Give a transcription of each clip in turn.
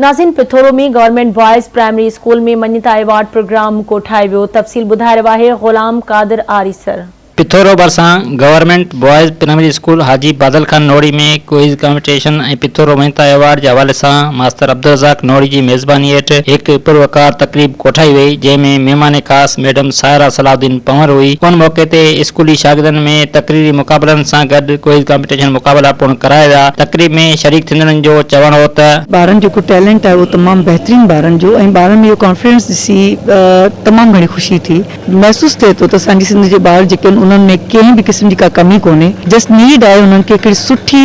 نازين Pithoro ۾ government boys primary school ۾ مڃتا award programme ڪوٺائي ويو تفصيل ٻڌائي رهيو آهي غلام قادر آريسر. پٿورو ڀرسان government boys primary school Haji Badal Khan نوڙي ۾ ڪوئز ڪامپيٽيشن ۽ پٿورو مڃتا ايوارڊ جي حوالي سان ماستر عبدالرزاق نوڙي جي ميزباني هيٺ هڪ پروقار تقريب ڪوٺائي وئي جنهن ۾ مهمان خاص ميڊم ساحره صلاح الدين پنهور هئي. ان موقعي تي اسڪولي شاگردن ۾ تقريري مقابلن سان گڏ ڪوئز ڪامپيٽيشن مقابلا پڻ ڪرايا ويا. تقريب ۾ شريڪ ٿيندڙن جو چوڻ هو ته. ٻارن جو جيڪو ٽيلنٽ آهي اهو تمام بهترين ٻارن جو ۽ ٻارن ۾ اهو ڪانفيڊنس ڏسي تمام گهڻي خوشي ٿي. محسوس ٿئي ٿو ته اسان جي سنڌ جي ٻار جيڪي آهن انهن ۾ ڪنهن به قسم جي ڪا ڪمي ڪونهي جسٽ نيڊ آهي انهن کي هڪڙي سٺي.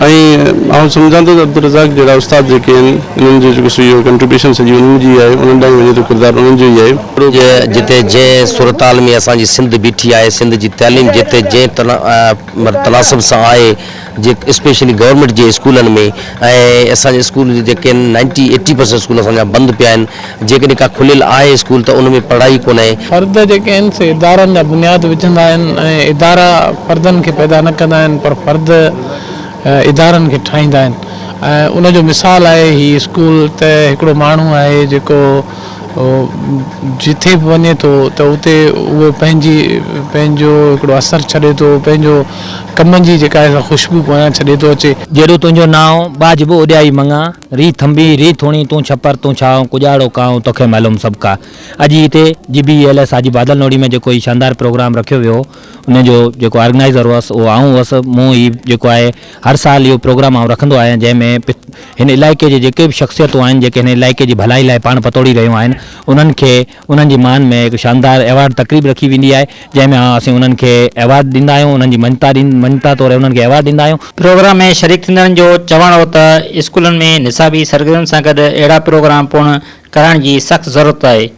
۽ آئون سمجهان ٿو ته عبدالرزاق جهڙا استاد جيڪي آهن انهن جو جيڪو سو اهو ڪنٽريبيوشن سڄي انهن جي آهي انهن ڏانهن وڃي ٿو ڪردار انهن جو ئي آهي. جتي جنهن صورتحال ۾ اسان جي سنڌ بيٺي آهي سنڌ جي تعليم جتي جنهن تناسب سان آهي جي اسپيشلي گورمينٽ جي اسڪولن ۾ ۽ اسان جي اسڪول جي جيڪي نائنٽي ايٽي پرسينٽ اسڪول اسان جا بند پيا آهن جيڪڏهن ڪا کليل آهي اسڪول ته ان ۾ پڙهائي ڪونهي. فرد جيڪي آهن سي ادارن جا بنياد وجهندا آهن ۽ ادارا فردن کي پيدا نه ڪندا آهن پر فرد ادارن کي ٺاهيندا آهن ۽ ان جو مثال آهي هي اسڪول ته هڪڙو ماڻهو آهي جيڪو جتي به وڃي ٿو ته اتي اهو پنهنجي پنهنجو هڪڙو اثر ڇڏي ٿو پنهنجو ڪم جي جيڪا آهي سا خوشبو پويان ڇڏي ٿو اچي. جيڏو تنهنجو نانء ٻاجهبو اڏيائي مڱان. ري ٿنڀي، ري ٿوڻي، تون ڇپر، تون ڇانو، ڪڄاڙو ڪانء، توکي معلوم سڀ ڪا. اڄ ئي هتي G B E L S Haji Badal Nohri ۾ جيڪو هي شاندار پروگرام رکيو ويو هو ان جو جيڪو آرگنائيزر هئس اهو آئون هئس. مون هي جيڪو آهي هر سال اهو پروگرام آئون رکندو آهيان جنهن ۾ هن علائقي جي جيڪي به شخصيتون آهن جيڪي هن علائقي جي ڀلائي لاء پاڻ پتوڙي رهيون آهن انهن کي انهن جي مان ۾ هڪ شاندار ايوارڊ تقريب رکي ويندي آهي، جنهن ۾ اسين انهن کي ايوارڊ ڏيندا آهيون، انهن جي مڃتا مڃتا طور انهن کي ايوارڊ ڏيندا آهيون. پروگرام ۾ شريڪ ٿيندڙن جو چوڻ هو ته اسڪولن ۾ نصابي سرگرمين سان گڏ اهڙا پروگرام پڻ ڪرائڻ جي سخت ضرورت آهي.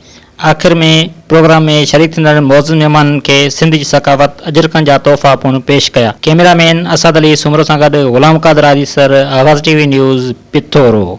آخر ۾ پروگرام ۾ شريڪ ٿيندڙ معزز مهمانن کي سنڌ جي ثقافت، اجرڪن جا تحفا پڻ پيش ڪيا. ڪئميرا مين اسعد علي سومرو سان گڏ غلام قادر آريسر، آواز ٽي وي نيوز، پٿورو.